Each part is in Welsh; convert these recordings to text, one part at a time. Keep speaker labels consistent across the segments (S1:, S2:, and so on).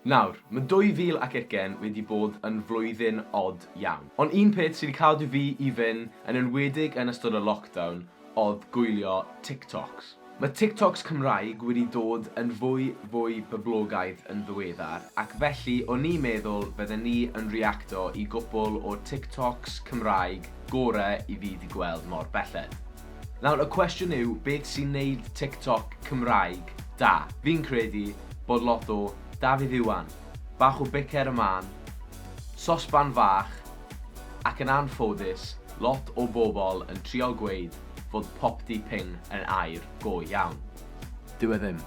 S1: Nawr, ma' 2020 wedi bod yn flwyddyn od iawn. Ond un peth sy 'di cadw fi i fyn', yn enwedig yn ystod y lockdown, odd gwylio TikToks. Ma' TikToks Cymraeg wedi dod yn fwy fwy boblogaidd yn ddiweddar, ac felly o'n i meddwl bydden ni yn reacto i gwpwl o'r TikToks Cymraeg gore i fi 'di gweld mor belled. Nawr y cwestiwn yw beth sy'n neud TikTok Cymraeg da? Fi'n credu bod lot o Dafydd Iwan, bach o bicer y man, sosban fach, ac yn anffodus lot o bobl yn trio gweud fod popty ping yn air go iawn. Dyw e ddim.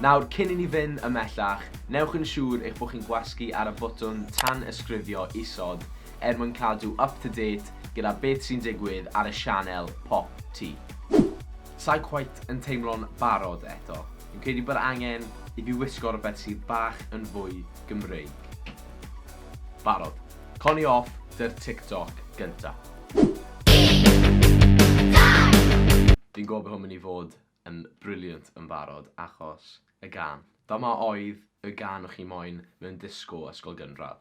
S1: Nawr cyn i ni fynd ymhellach, newch yn siŵr eich bod chi'n gwasgu ar y botwm tan-ysgrifio isod er mwyn cadw up to date gyda beth sy'n digwydd ar y sianel Pop Tee. Sai cweit yn teimlo'n barod eto. Fi'n credu bod angen i fi wisgo rhywbeth sydd bach yn fwy Gymreig. Barod. Con i off dy'r TikTok gynta. Fi'n gwybod bod hwn mynd i fod yn brilliant yn barod achos y gân. Dyma oedd y gân o'ch chi moyn mewn disgo ysgol gynradd.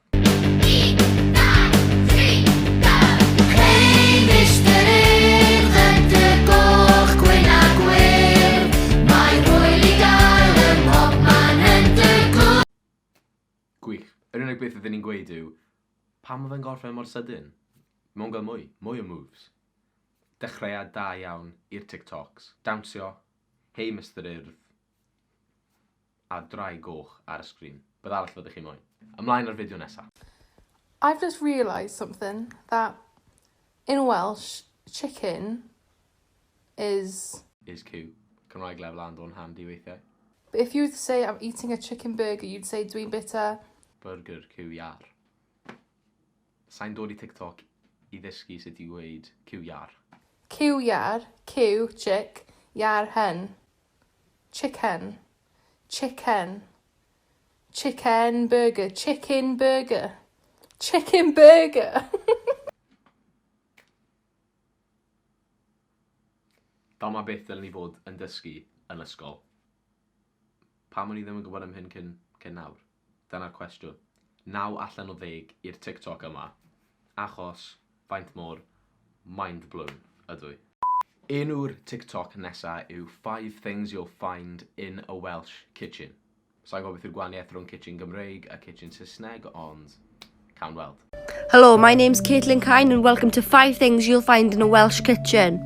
S1: Gwych. Yr unig beth ydyn ni'n gweud yw, pam oedd e'n gorffen mor sydyn? Mae'n gael mwy, mwy o moves. Dechreuad da iawn i'r Tic Tocs. Dawnsio, Hei Mister Urdd! a ddraig goch ar y sgrin. Beth arall fyddech chi'n moyn? Ymlaen â'r fideo nesa. I've just realised something, that in Welsh, chicken is. Is Q. Cymraeg lefel A'n dod yn handi weithiau. But if you were to say I'm eating a chicken burger, you'd say dwi'n bita. Burger Q iar. Sai'n dod i TikTok i ddysgu sut i ddweud cyw iâr. Cyw iâr, cyw, chick, iâr, hen. Chicken. Chicken. Chicken burger, chicken burger. Chicken burger! Dyma beth ddylen ni fod yn dysgu yn ysgol. Pam o'n i ddim yn gwybod am hyn cyn, cyn nawr? Dyna'r cwestiwn. Naw allan o ddeg i'r TikTok yma, achos faint mor mind blown ydw i. Enw'r TikTok nesa yw Five Things You'll Find in a Welsh Kitchen. Sai'n gwybod beth yw'r gwahaniaeth rhwng kitchen Gymreig a kitchen Saesneg, ond cawn weld. Hello, my name's Caitlin Kyne and welcome to 5 things you'll find in a Welsh kitchen.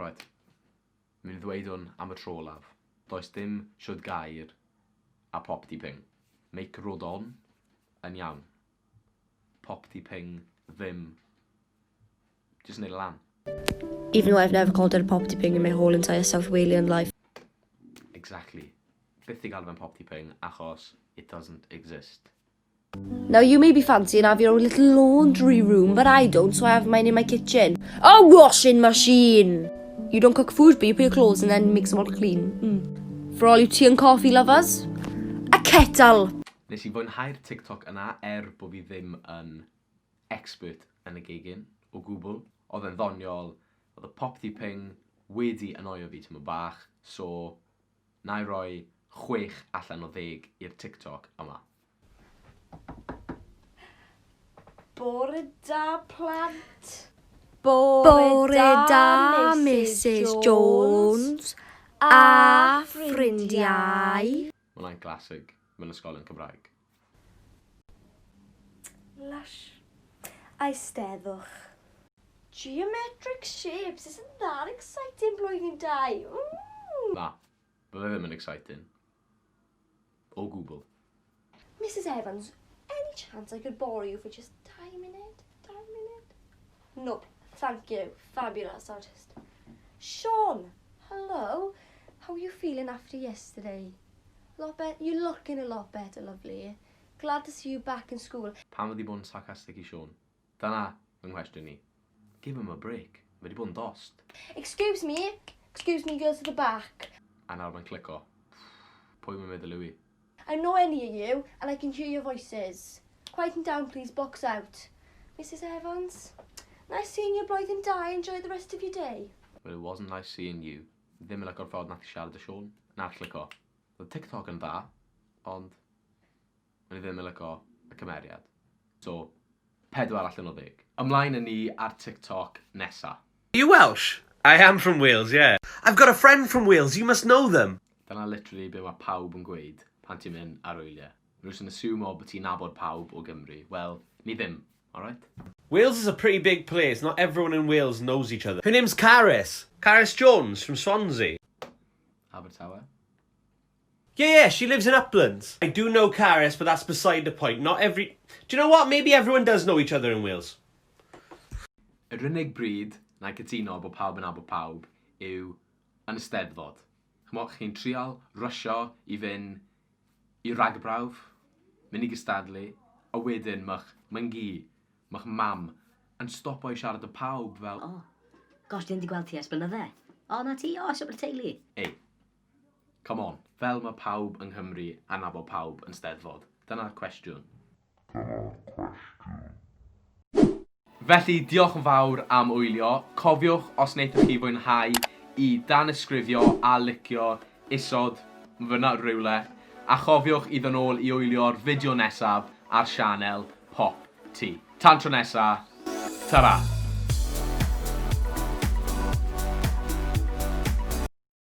S1: Right. Mi'n ddweud hwn am y tro laf. Does dim siwd gair a pop di ping. Make rod on yn iawn. Pop di ping ddim. Just neud lan. Even though I've never called it a pop di ping in my whole entire South Walian life. Exactly. Byth di galw fe'n pop di ping achos it doesn't exist. Now you may be fancying have your own little laundry room, but I don't, so I have mine in my kitchen. A washing machine! You don't cook food, but you put your clothes and then makes them all clean. Mm. For all you tea and coffee lovers, a kettle! Nes i fwynhau'r TikTok yna er bod fi ddim yn expert yn y gegin o gwbl. Oedd e'n ddoniol, oedd y popty ping wedi annoio fi tyma bach, so Nai roi chwech allan o ddeg i'r TikTok yma. Bore da plant. Bore da Misus Jones a ffrindiau. Mae hwnna'n classic. mewn ysgolion Cymraeg. Lush. Eisteddwch. Geometric shapes isn't that exciting blwyddyn dau, ww! Na, fydde ddim yn exciting. O gwbl. Misus Evans, any chance I could borrow you for just dau munud? Dau munud? Nope, thank you, fabulous artist. Sean, hello, how are you feeling after yesterday? Lot better, you're looking a lot better, lovely. Glad to see you back in school. Pam wedi bod yn sarcastic i Sean? Dyna fy nghwestiwn i. Give him a break, mae wedi bod yn dost. Excuse me, excuse me girls at the back. A nawr mae'n clico. Pwy mae'n meddwl yw i? I know I near you and I can hear your voices. Quieten down please, box out. Misus Evans, Nice seeing you Blwyddyn Da, enjoy the rest of your day. Well it wasn't nice seeing you. Ddim yn lico'r ffordd nath ti siarad â Siôn. Na allai lico. Roedd TikTok yn dda, ond o'n i ddim yn lico y cymeriad. So, 4 allan o 10. Ymlaen a ni ar TikTok nesa. Are you Welsh? I am from Wales, yeah. I've got a friend from Wales, you must know them! Dyna literally be mae pawb yn gweud pan ti'n mynd ar wyliau. Mae nhw jyst yn assumo bod ti'n nabod pawb o Gymru. Wel, ni ddim, alright? Wales is a pretty big place, not everyone in Wales knows each other. Her name's Carys. Carys Jones from Swansea. Abertawe. Yeah yeah she lives in Uplands. I do know Carys but that's beside the point not every Do you know what maybe everyone does know each other in Wales. Yr unig bryd na i cytuno bod pawb yn nabod pawb yw yn y Steddfod. Ch'mo' chi'n trial rysio i fyn' i ragbrawf, myn' i gystadlu, a wedyn ma'ch myngi, ma'ch mam yn stopo i siarad â pawb fel, O, gosh dwi ddim 'di gweld ti ers blynydde. O 'na ti, o ers Aberteulu. Ei, Come on, fel mae pawb yng Nghymru a nabod pawb yn Steddfod. Dyna'r cwestiwn. Dyna'r cwestiwn. Felly, diolch yn fawr am wylio. Cofiwch, os wnaethoch chi fwynhau, i danysgrifio a licio isod fan'na rywle. A chofiwch i ddod nôl i wylio'r fideo nesaf ar sianel Pop Ti. Tan tro nesa, tara!